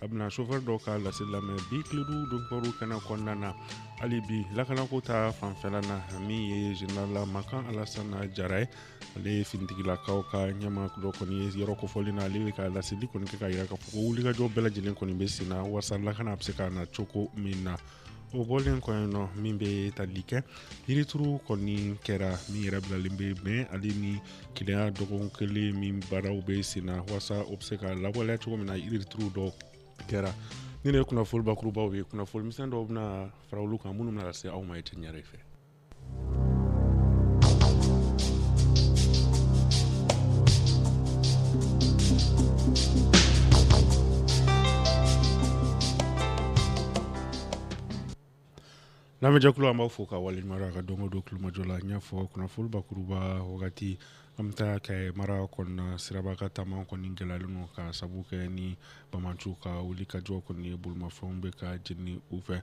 a bɛna chauffeur dɔw ka laseli lamɛn bi tilerɔ donkibaru kɛnɛ kɔnɔna na hali bi lakanako ta fanfɛla na min ye général makan alasana jara ye ale ye finitigilakaw ka ɲɛmaa dɔ kɔni ye yɔrɔ kofɔlen na ale bɛ ka laseli kɔni kɛ k'a yira k'a fɔ ko wulikajɔ bɛɛ lajɛlen kɔni bɛ sen na walasa lakana bɛ se ka na cogo min na o bɔlen kɔ yen nɔ min bɛ tali kɛ yirituru kɔni kɛra min yɛrɛ bilalen bɛ bɛn ale ni kelenya dɔgɔkun kelen min baaraw bɛ sen na walasa o bɛ se ka lawaleya cogo min na yirituru dɔ kɛra ninnu ye kunnafoni bakurubaw ye kunnafoni misɛn dɔw bɛna fara olu kan minnu bɛna lase aw ma i tɛ ɲɛ fɛ Lamɛnjɛkulu an b'a fo k'a waleɲumandɔn a ka don o don tulomajɔ la n y'a fɔ kunnafonibakuruba wagati an bɛ taa Kayi mara kɔnɔna sirabakantaama kɔni gɛlɛyalen don k'a sabu kɛ ni banbaanciw ka wulikajɔ kɔni ye bolimafɛnw bɛ ka jeni u fɛ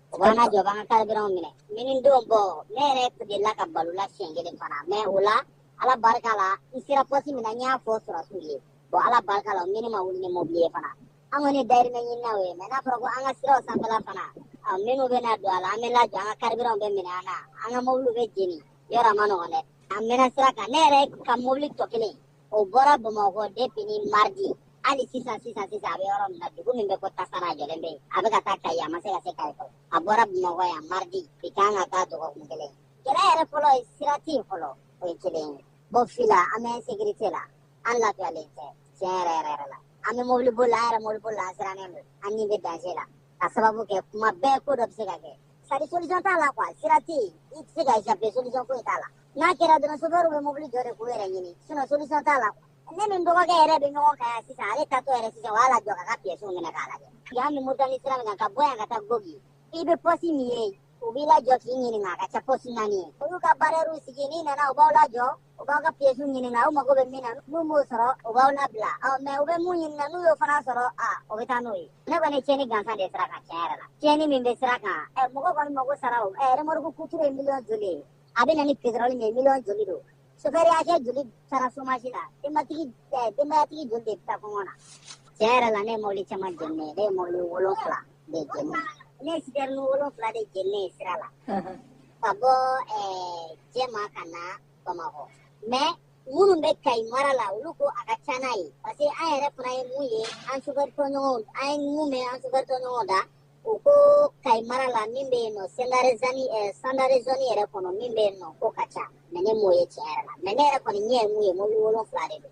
An lajɔ u b'an ka carburant minɛ ne ni n denw bɔ ne yɛrɛ delila ka balo la siɲɛ kelen fana mais o la Ala barika la n sera poste min na n y'a fɔ sɔrɔdasiw ye bon Ala barika la u ni ne ma wuli ni mobili ye fana an kɔni dayirimɛ ɲininaw ye mais n'a fɔra ko an ka siraw fan bɛɛ la fana minnu bɛna don a la an bɛ lajɔ an ka carburant bɛ minɛ an na an ka mobiliw bɛ jeni yɔrɔ a man nɔgɔn dɛ an mɛnna sira kan ne yɛrɛ ka mobili tɔ kelen o bɔra bamakɔ depuis ni mardi hali sisan sisan sisan a bɛ yɔrɔ min na dugu min bɛ ko tasara a jɔlen bɛ yen a bɛ ka taa kayi a ma se ka se kayi fɔlɔ a bɔra bamakɔ yan mardi bi kan ka taa dɔgɔkun kelen kɛlɛ yɛrɛ fɔlɔ ye sira tɛ yen fɔlɔ o ye kelen ye bon fila an bɛ insécurité la an lafiyalen tɛ tiɲɛ yɛrɛ yɛrɛ yɛrɛ la an bɛ mobili boli la an yɛrɛ mobilibolila an sirannen don an ni bɛ danger la k'a sababu kɛ kuma bɛɛ ko dɔ bɛ se ka kɛ sari solution t'a la quoi sira tɛ yen i tɛ se ka échapper solution foyi t'a la n'a kɛra dɔrɔn chauffeur bɛ mobili jɔ de k'i yɛrɛ ɲini sinon solution t'a la ne ni n dɔgɔkɛ yɛrɛ bɛ ɲɔgɔn kan yan sisan ale taatɔ yɛrɛ sisan u y'a lajɔ k'a ka pièces minɛ k'a lajɛ yan bɛ Moritani sira min kan ka bɔ yan ka taa Gogi i bɛ poste min ye u b'i lajɔ k'i ɲininka a ka ca poste naani ye olu ka barrières sigi n'i nana u b'aw lajɔ u b'a ka pièce ɲininka u mago bɛ min na n'u m'o sɔrɔ u b'aw labila ɔ mais u bɛ min ɲininka n'u y'o fana sɔrɔ a o bɛ taa n'o ye ne kɔni ye tiɲɛni gansan de sira kan tiɲɛ yɛrɛ la tiɲɛni min bɛ sira kan ɛ mɔgɔ kɔni mago sara o ɛ remorque kuturu ye miliyɔn joli ye a bɛ na ni pétrole min ye miliyɔn joli don sofɛri hakɛ joli taara somasi la denbatigi denbayatigi joli de bɛ taa kɔngɔ na tiɲɛ yɛrɛ la ne ye mɔbili caman jeni ne ye mɔbili wolonfila de jeni ne sitɛrɛni wolonfila de jeninen ye sira la ka bɔ jɛma ka na bamakɔ mɛ minnu bɛ kayi mara la olu ko a ka ca n'a ye parce que an yɛrɛ fana ye mun ye an sufɛritɔɲɔgɔnw an ye mun mɛn an sufɛritɔɲɔgɔnw da u ko kayi mara la min bɛ yen nɔ sandare zone sandare zone yɛrɛ kɔnɔ min bɛ yen nɔ k'o ka ca mɛ ne m'o ye tiɲɛ yɛrɛ la mɛ ne yɛrɛ kɔni ɲɛ ye mun ye mobili wolonfila de don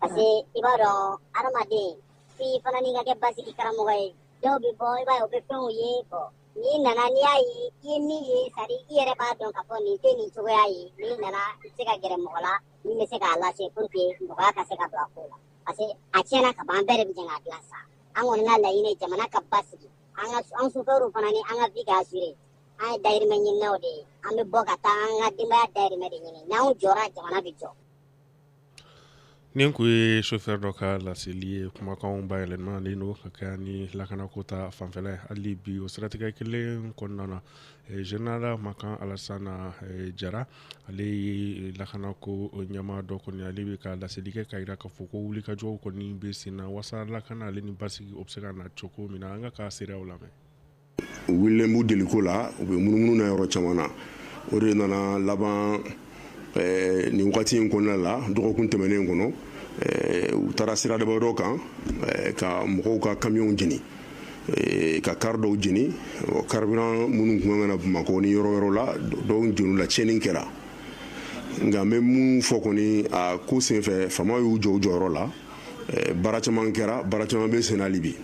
parce que i b'a dɔn adamaden f'i fana n'i ka kɛ basigi karamɔgɔ ye dɔw bɛ bɔ i b'a ye u bɛ fɛnw ye bɔn n'i nana n'i y'a ye i ye min ye sari i yɛrɛ b'a dɔn k'a fɔ nin tɛ nin cogoya ye n'i nana i bɛ se ka gɛrɛ mɔgɔ la min bɛ se k'a lase pour que nɔgɔya ka se ka don a ko la parce que a tiɲɛna ka ban an bɛɛ de bɛ jɛ k'a dilan sa an kɔni ka laɲini ye jamana ka basigi an ka an sufɛriw fana ni an ka vie ka assuré an ye dayirimɛ ɲininaw de ye an bɛ bɔ ka taa an ka denbaya dayirimɛ de ɲini n'anw jɔra jamana bɛ jɔ Nin tun ye sofɛri dɔ ka laseli ye kumakan bayɛlɛmalen don ka kɛɲɛ ni lakanako tafanfɛla ye hali bi o siratigɛ kelen kɔnɔna na zenerali makan alasani jara ale ye lakanako ɲɛmaa dɔ kɔni ale bɛ ka laseli kɛ k'a jira k'a fɔ ko wulikajɔ kɔni bɛ sen na walasa lakana ale ni basigi o bɛ se ka na cogo min na an k'a ka seereyaw lamɛn u wulilen b'u deliko la u bɛ munumunu na yɔrɔ caman na o de nana laban eh, nin wagati in kɔnɔna la dɔgɔkun tɛmɛnen kɔnɔ eh, u taara sira damadɔ kan eh, ka mɔgɔw ka kamiyɔnw jeni ka kari dɔw jeni karibiran minnu tun ka na bamakɔ ni yɔrɔ yɔrɔ la dɔw jenina tiɲɛni kɛra nka n bɛ mun fɔ kɔni a ko senfɛ fama y'u jɔ u jɔyɔrɔ la baara caman kɛra baara caman bɛ sen na hali bi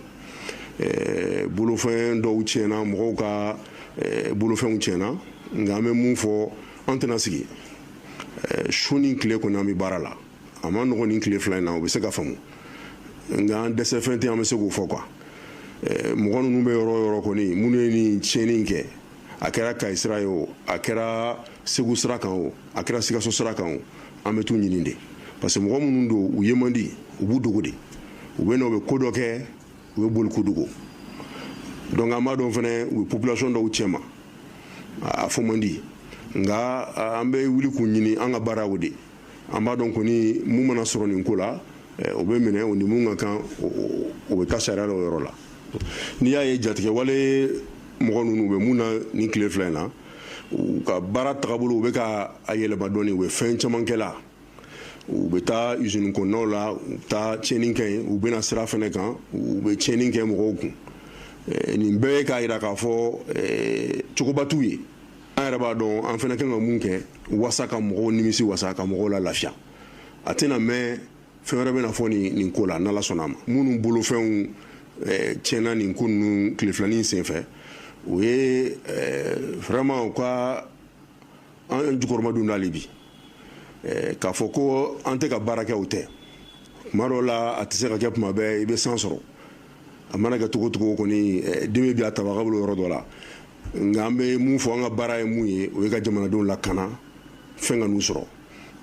eh, bolofɛn dɔw tiɲɛna mɔgɔw ka eh, bolofɛnw tiɲɛna nka an bɛ mun fɔ an tɛna sigi eh, su ni tile kɔni an bɛ baara la a man nɔgɔ nin tile fila in na o bɛ se ka faamu nka an dɛsɛfɛn tɛ an bɛ se k'o fɔ quoi mɔgɔ ninnu bɛ yɔrɔ yɔrɔ kɔni minnu ye nin tiɲɛni in kɛ a kɛra kayi sira ye o a kɛra segu sira kan o a kɛra sikaso sira kan o an bɛ t'u ɲini de parce que mɔgɔ minnu don u ye man di u b'u dogo de u bɛ na u bɛ ko dɔ kɛ u bɛ boli k'u dogo donc an b'a dɔn fɛnɛ u bɛ population dɔw cɛma a fɔ man di nka an bɛ wuli k'u ɲini an ka baara o de an b'a dɔn kɔni mun mana sɔrɔ nin ko la eh, o bɛ minɛ o ni mun ka kan o bɛ taa sariya la o yɔrɔ la n'i y'a ye jatigɛwale mɔgɔ ninnu bɛ mun na nin tile fila in na u ka baara tagabolo u bɛ ka a yɛlɛma dɔɔni u bɛ fɛn caman kɛ la u bɛ taa usine kɔnɔnaw la u bɛ taa tiɲɛni kɛ yen u bɛ na sira fana kan u bɛ tiɲɛni kɛ mɔgɔw kun eh, nin bɛɛ ye k'a jira k'a fɔ eh, cogoba t'u ye an yɛrɛ b'a dɔn an fana kan ka mun kɛ wasa ka mɔgɔw nimisiwasa ka mɔgɔw lalafiya a tɛna mɛn fɛn wɛrɛ bɛna fɔ nin nin ko la n'ala sɔnna a ma minnu bolofɛnw eh, tiɲɛna nin ko ninnu tile fila nin senfɛ o ye eh, vraiment u ka an jukɔrɔmadon n'ale bi eh, k'a fɔ ko an tɛ ka baara kɛ o tɛ tuma dɔw la a tɛ se ka kɛ tuma bɛɛ i bɛ se sɔrɔ a mana kɛ cogo cogo kɔni dimi bi a tabaga bolo yɔrɔ dɔ la nka an bɛ mun fɔ an ka baara ye mun ye o ye ka jamanadenw lakana fɛn kan'u sɔrɔ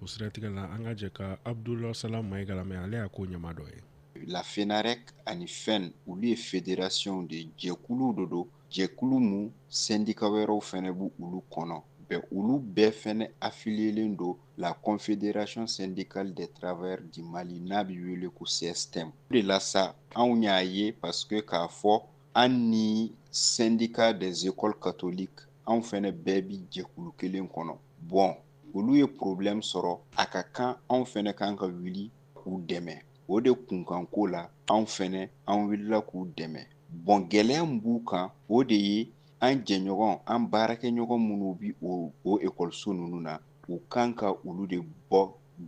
o siratigɛ la an ka jɛ ka abudula salam mayiga lamɛn ale y'a ko ɲɛmaa dɔ ye la fenarec ani fen olu ye federasiyɔnw de jɛkuluw de don jɛkulu min sɛndika wɛrɛw fɛnɛ b'olu kɔnɔ bɔn olu bɛɛ fɛnɛ afiliyelen don la confédération syndicale des travailleurs du mali n'a bi wele ko cstm o de la sa anw y'a ye parce que k'a fɔ an ni syndicat des écoles catholiques anw fɛnɛ bɛɛ bi jɛkulu kelen kɔnɔ bɔn olu ye problème sɔrɔ a ka kan anw fɛnɛ kan ka wuli k'u dɛmɛ o de kunkanko la anw fɛnɛ an wulila k'u dɛmɛ bɔn gɛlɛya min b'u kan o de ye an jɛɲɔgɔn an baarakɛɲɔgɔn minnu bi o o ekɔliso ninnu na u kan ka olu de bɔ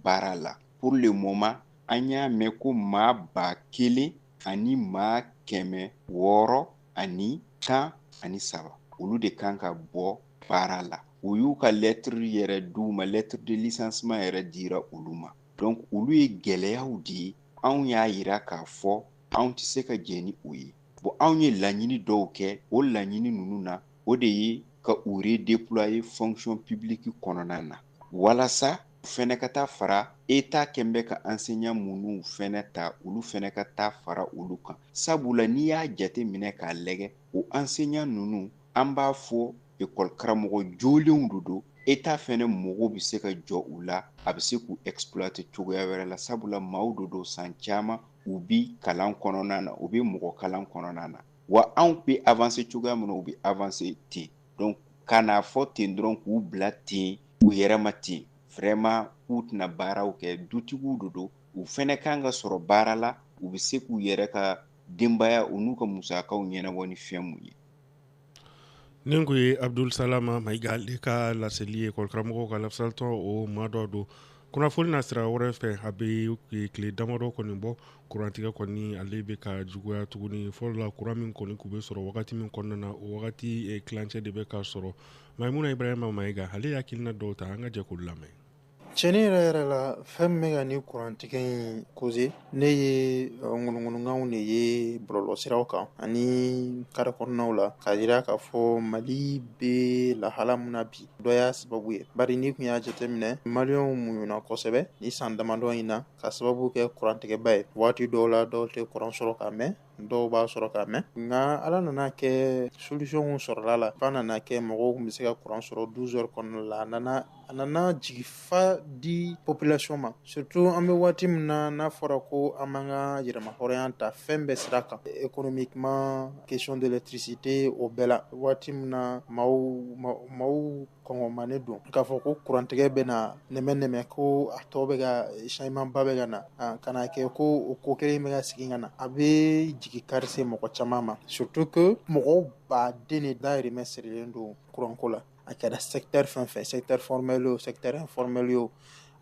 baara la pour le moment an y'a mɛn ko maa ba kelen ani maa kɛmɛ wɔɔrɔ ani tan ani saba olu de kan ka bɔ baara la u y'u ka lɛtiri yɛrɛ d'u ma lettre de licenciement yɛrɛ dira olu ma donc olu ye gɛlɛyaw de ye anw y'a yira k'a fɔ anw tɛ se ka jɛ ni o ye bon anw ye laɲini dɔw kɛ o laɲini ninnu na o de ye ka u redéployer fonction publique kɔnɔna na walasa u fɛnɛ ka taa fara eta kɛn bɛ ka enseignant minnu fɛnɛ ta olu fɛnɛ ka taa fara olu kan sabula n'i y'a jate minɛ k'a lɛgɛ o ansenya ninnu an b'a fɔ ekɔli karamɔgɔ jolenw de don eta fɛnɛ mago bɛ se ka jɔ u la a bɛ se k'u exploiter cogoya wɛrɛ la sabula maaw de don san caman u bi kalan kɔnɔna na u bɛ mɔgɔ kalan kɔnɔna na wa anw bɛ avanse cogoya min na u bɛ avanse ten donc ka n'a fɔ ten dɔrɔn k'u bila ten u yɛrɛ ma ten vraiment k'u tɛna baaraw kɛ dutigiw de don u fɛnɛ kan ka sɔrɔ baara la u bɛ se k'u yɛrɛ ka denbayaw n'u ka musakaw ɲɛnabɔ ni fɛn min ye nin tun ye abdul salama mayiga ale ka laseli ye ekɔlikaramɔgɔw ka lafasalitɔn o maa dɔ don kunnafoni nasira wɛrɛ fɛ a bɛ tile damadɔ kɔni bɔ kurantigɛ kɔni ale bɛ ka juguya tuguni fɔlɔ la kuran min kɔni tun bɛ sɔrɔ wagati min kɔnɔna na o wagati tilancɛ de bɛ ka sɔrɔ maimuna ibrahima mayiga ale ye hakilina dɔw ta an ka jɛ k'olu lamɛn Cɛn yɛrɛ yɛrɛ la fɛn min bɛ ka ni kurantigɛ in kose ne ye ŋunuŋunukanw de ye bɔlɔlɔsiraw kan ani kari kɔnɔnaw la k'a jira k'a fɔ mali bɛ lahala min na bi dɔ y'a sababu ye bari n'i tun y'a jateminɛ maliyɛnw muɲuna kosɛbɛ ni san damadɔ in na k'a sababu kɛ kurantigɛba ye waati dɔw la dɔw tɛ kuran sɔrɔ ka mɛn dɔw b'a sɔrɔ ka mɛn nka ala nana kɛ solution sɔrɔla a la f'a nana kɛ mɔgɔw tun bɛ se ka kuran sɔrɔ douze heures kɔnɔna la a nana a nana jigifa di population ma surtout an bɛ waati min na n'a fɔra ko an b'an ka yɛrɛmahɔrɔnya ta fɛn bɛɛ sira kan économiquement question d'électricité o bɛɛ la waati min na maaw kɔngɔmanen don k'a fɔ ko kurantigɛ bɛna nɛmɛ nɛmɛ ko a tɔ bɛ ka changement ba bɛ ka na ka n'a kɛ ko o ko kelen bɛ ka segin ka na a bɛ jigikari se mɔgɔ caman ma surtout que mɔgɔ baaden de dahirimɛ sirilen don kuranko la a kɛra secteur fɛn o fɛn secteur formel ye o secteur informel ye o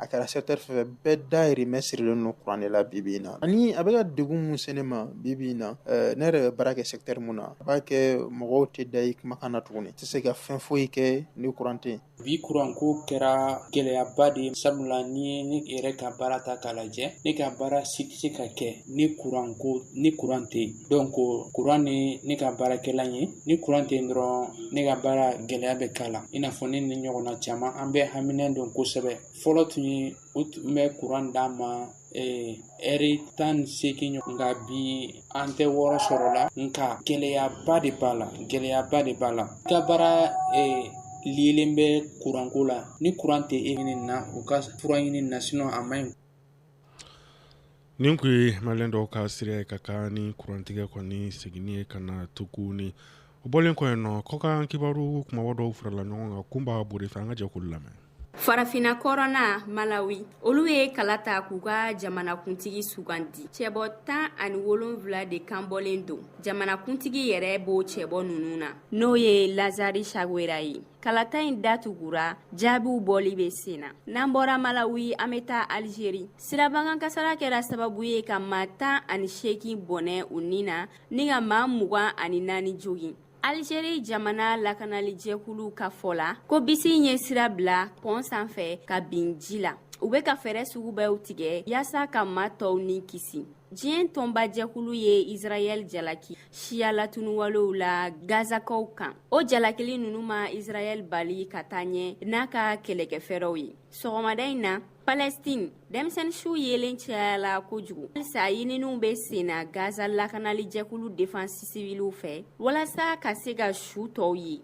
a kɛra secteur fɛn fɛn bɛɛ dahirimɛ sirilen don kuran de la bi bi in na ani a bɛ ka degun mun se ne ma bi bi in na ɛɛ ne yɛrɛ bɛ baara kɛ secteur mun na a b'a kɛ mɔgɔw tɛ da i kumakan na tuguni i tɛ se ka fɛn foyi kɛ ni kuran tɛ yen bi kuranko kɛra gɛlɛyaba de ye sabula n'i ye ne yɛrɛ ka baara ta k'a lajɛ ne ka baara si tɛ se ka kɛ ni kuran ko ni kuran tɛ yen donc kuran de ne ka baarakɛla ye ni kuran tɛ yen dɔrɔn ne ka baara gɛlɛya bɛ k'a la i n'a fɔ ne ni ɲɔgɔnna caman an bɛɛ haminen don kosɛbɛ fɔlɔ tun ye u tun bɛ kuran d'an ma lɛri tan ni seegin ɲɔgɔn nka bi an tɛ wɔɔrɔ sɔrɔ la nka gɛlɛyaba de b'a la gɛlɛyaba de b'a la i ka baara lilen bɛ kuranko la ni kuran tɛ e ɲini na u ka fura ɲini na a man ɲi Nin tun ye maliden dɔw ka seereya ye ka kɛɲɛ ni kurantigɛko in seginni ye ka na tuguni o bɔlen kɔ yen nɔ kɔkan kibaru kunbaba dɔw farala ɲɔgɔn kan kunba bore fɛ an ka jɛ k'olu lamɛn farafinna kɔrɔnna malawi olu ye kala ta k'u ka jamanakuntigi sugandi cɛbɔ tan ani wolonwula de kan bɔlen don jamanakuntigi yɛrɛ b'o cɛbɔ ninnu na n'o ye lazari sakwera ye kalata in datugura jaabiw bɔli bɛ sen na n'an bɔra malawi an bɛ taa alizeri sirabakan kasaara kɛra sababu ye ka maa tan ani seegin bɔnɛ u ni na ni ka maa mugan ani naani jogin alizeri jamana lakanalijɛkulu ka fɔ la ko bisi in ye sira bila pɔn sanfɛ ka bin ji la u bɛ ka fɛɛrɛ sugu bɛɛ tigɛ yaasa ka maa tɔw ni kisi diɲɛ tɔnbajɛkulu ye israɛl jalaki siya latuniwalew la gazakaw kan o jalakili ninnu ma israɛl bali ka taa ɲɛ n'a ka kɛlɛkɛfɛɛrɛw ye sɔgɔmada in na Palestine, denmisɛnnin su yelen cayala kojugu. Halisa ɲininiw bɛ sen na Gaza lakanali jɛkulu defense civile fɛ walasa ka se ka su tɔw ye.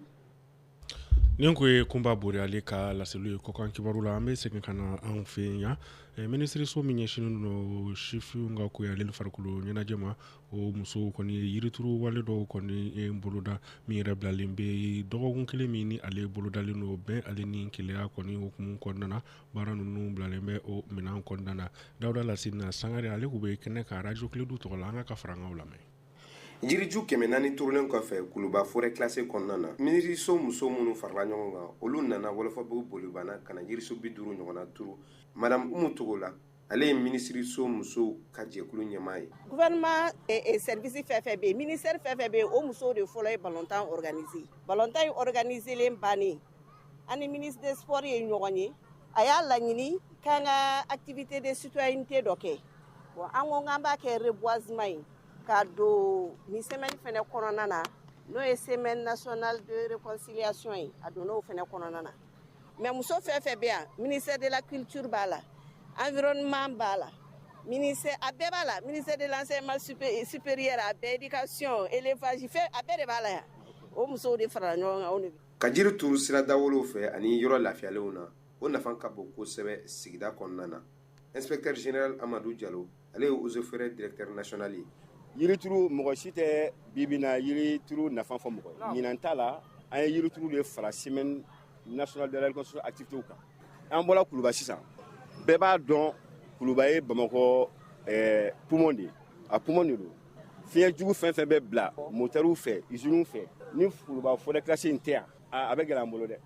Nin kun ye Kunba Boyali ka laseliw ye kɔkan kibaru la. An bɛ segin ka na anw fɛ yan. Minisiriso min ɲɛsinnen don sifinw ka kow ani farikolo ɲɛnajɛ ma, o musow kɔni ye yirituru wale dɔw kɔni boloda min yɛrɛ bilalen bɛ dɔgɔkun kelen min ni ale bolodalen don bɛn ale ni kelenya kɔni hukumu kɔnɔna na. baara ninnu bilalen bɛ o minɛn kɔnɔna na dawuda lasina sangare ale tun bɛ kɛnɛ kan arajo kledu tɔgɔ la an k'a ka farankanw lamɛn jiriju kɛmɛ naani turulen kɔfɛ kuluba forɛ kilase kɔnɔna na minisiriso muso minnu farala ɲɔgɔn kan olu nana wɔlɔfɔbugu bolibana ka na yirisun bi duuru ɲɔgɔnna turu madame umu togola ale ye minisiriso musow ka jɛkulu ɲɛmaa ye gouvernement service fɛn fɛn bɛ yen ministère fɛn fɛn bɛ yen o musow de fɔlɔ ye balɔntan organiser balɔntan in organiselen bannen an ni ministre des sports ye ɲɔgɔn ye a y'a laɲini k'an ka activité de citoyenneté dɔ kɛ bon an ko k'an b'a kɛ reboisement ye k'a don nin semaine fɛnɛ kɔnɔna na n'o ye semaine nationale de réconciliation ye a donna o fɛnɛ kɔnɔna na mais muso fɛn fɛn bɛ yan ministère de la culture b'a la environnement b'a la ministère a bɛɛ b'a la ministère de l'enseignement supé- supérieur a bɛɛ éducation élevage fɛn a bɛɛ de b'a la yan o musow de farala ɲɔgɔn kan o de bɛ ka jiri turu sira dawolow fɛ ani yɔrɔ lafiyalenw na o nafa ka bon kosɛbɛ sigida kɔnɔna na inspecteur general Amadou Diallo ale ye eaux et forêts directeur national ye yirituru mɔgɔ si tɛ bi bi na yirituru nafa fɔ mɔgɔ ye ɲinan ta la an ye yirituru de fara semaine nationale de la réconciliation activités kan an bɔra kuluba sisan bɛɛ b'a dɔn kuluba ye bamakɔ eh, poumon de ye a poumon de don fiɲɛ jugu fɛn fɛn bɛ bila motɛriw fɛ iziniw fɛ ni kuluba forɛ kilase in tɛ yan a bɛ gɛlɛya an bolo dɛ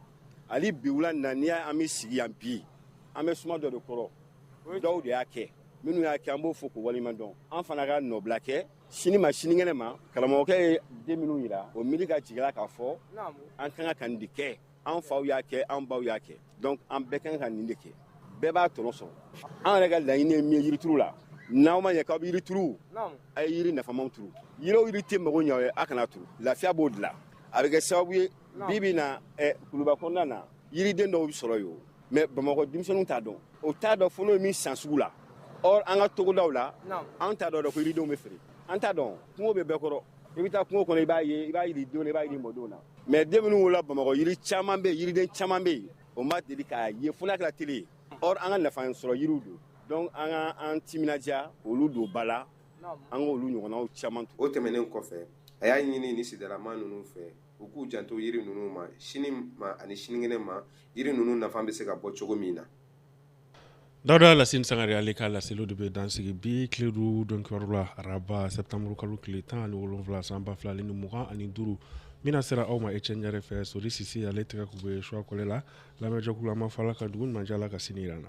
hali bi wula na n'i y'a an bɛ sigi yan bi an bɛ suma dɔ de kɔrɔ dɔw de y'a kɛ minnu y'a kɛ an b'o fo k'u waleɲuman dɔn an fana ka nɔbila kɛ sini ma sininkɛnɛ ma karamɔgɔkɛ ye den minnu yira o miiri ka jigila k'a fɔ an ka kan ka nin de kɛ an faw y'a kɛ an baw y'a kɛ donc an bɛɛ ka kan ka nin de kɛ bɛɛ b'a tɔnɔ sɔrɔ an yɛrɛ ka laɲini ye min ye yirituru la n'aw ma ɲɛ k'aw bɛ yiri turu a ye yiri nafamaw turu yiri o yiri tɛ mago ɲɛ aw ye a kana turu lafiya b'o de la a bɛ kɛ sababu ye bi bi na kuluba kɔnɔna na yiriden dɔw bɛ sɔrɔ yen mais bamakɔ denmisɛnninw t'a dɔn o t'a dɔn fo n'o ye min san sugu la or an ka togodaw la an t'a dɔn ko yiridenw bɛ feere an t'a dɔn kungo bɛ bɛɛ kɔrɔ i bɛ taa kungo kɔnɔ i b'a ye i b'a yiri dɔn i b'a yiri mɔdenw na mais den minnu wolola bamakɔ yiri caman bɛ yiriden caman bɛ yen o ma deli k'a ye fo n'a kɛra tele ye or an ka nafa sɔrɔ yiriw don donc an ka an timinandiya olu don ba la an k'olu ɲɔgɔnnaw caman o tɛmɛnen kɔfɛ a y'a ɲini ni sigidalamaa ninnu fɛ u k'u janto yiri ninnu ma sini ma ani sinikɛnɛ ma yiri ninnu nafa bɛ se ka bɔ cogo min na dawuda lassine sangare ale ka laseliw de bɛ dansigi bi tile duuru donkibaru la araba sɛtanburu kalo tile tan ani wolonwula san ba fila ni mugan ani duuru min lasera aw ma ecɛn ɲare fɛ sori sise ale tɛgɛ kun bɛ suwa kɔlɛ la lamɛnjɛkulu an b'a fɔ ala ka dugu ɲuman jɛ ala ka sini yira an na